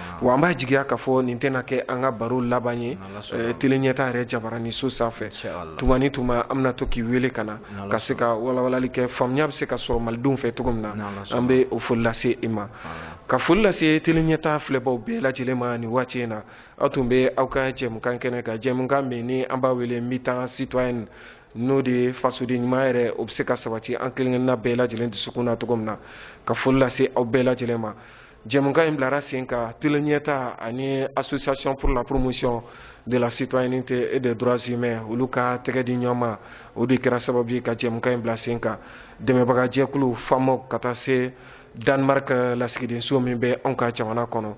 wa an b'a jigiya k'a fɔ nin tɛna kɛ an ka baro laban ye eh, tele ɲɛta yɛrɛ jabaranin so sanfɛ tuma ni tuma an bɛna to k'i wele ka na ka se ka walawalali kɛ faamuya bɛ se ka sɔrɔ malidenw fɛ cogo min na an bɛ o foli lase i ma ka foli lase tele ɲɛta filɛbaw bɛɛ lajɛlen ma nin waati in na aw tun bɛ aw ka jɛmukan kɛnɛ kan jɛmukan min ni an b'a wele mi-temps citoyenne n'o de ye fasoden ɲuman yɛrɛ o bɛ se ka sabati an kelen kelenna bɛɛ lajɛlen dusukun na cogo min na ka foli lase aw bɛɛ lajɛlen ma Jɛmukan in bilara sen kan tele ɲɛta ani association pour la promotion de la citoyenneté et des droits humains olu ka tɛgɛ di ɲɔgɔn ma o de kɛra sababu ye ka jɛmukan in bila sen kan dɛmɛbagajɛkulu FAMOC ka taa se Danemark lasigidenso min bɛ anw ka jamana kɔnɔ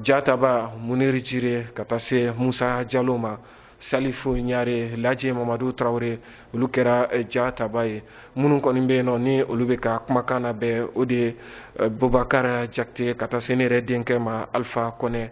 jataba muniri jire ka taa se musa jalo ma salifu ɲare laji mamadu traore olu kɛra eh, jataba ye minnu kɔni bɛ yen nɔ ni olu bɛ ka kumakan nabɛn o de ye eh, bubakara jakite ka taa se ne yɛrɛ denkɛ ma alifa kɔnɛ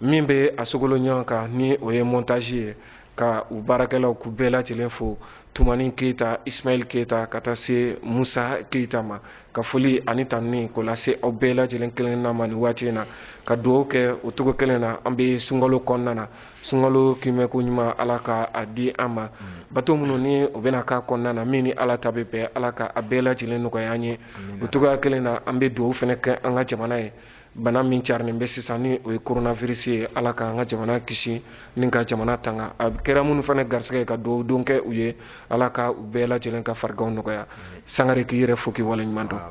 min bɛ a sogolo ɲɔgɔn kan ni o ye montage ye ka u baarakɛlaw k'u bɛɛ lajɛlen fo tumani keyita ismail keyita ka taa se musa keyita ma ka foli ani tanuni k'o lase aw bɛɛ lajɛlen kelenna ma nin waati in na ka dugawu kɛ o cogo kelen na an bɛ sunkalo kɔnɔna na sunkalo kiimɛko ɲuman ala ka a di an ma mm. bato minnu ni u bɛna k'a kɔnɔna na min ni ala ta bɛ bɛn ala ka a bɛɛ lajɛlen nɔgɔya an ye o cogoya kelen na an bɛ dugawu fana kɛ an ka jamana ye bana min carinen bɛ sisan ni o ye coronavirus ye ala ka an ka jamana kisi ni ka jamana tanga a kɛra minnu fana garisɛgɛ ye ka dugawu don kɛ u ye ala ka u bɛɛ lajɛlen ka fariganw nɔgɔya mm. sangare k'i yɛrɛ fo k'i waleɲuman dɔn ah,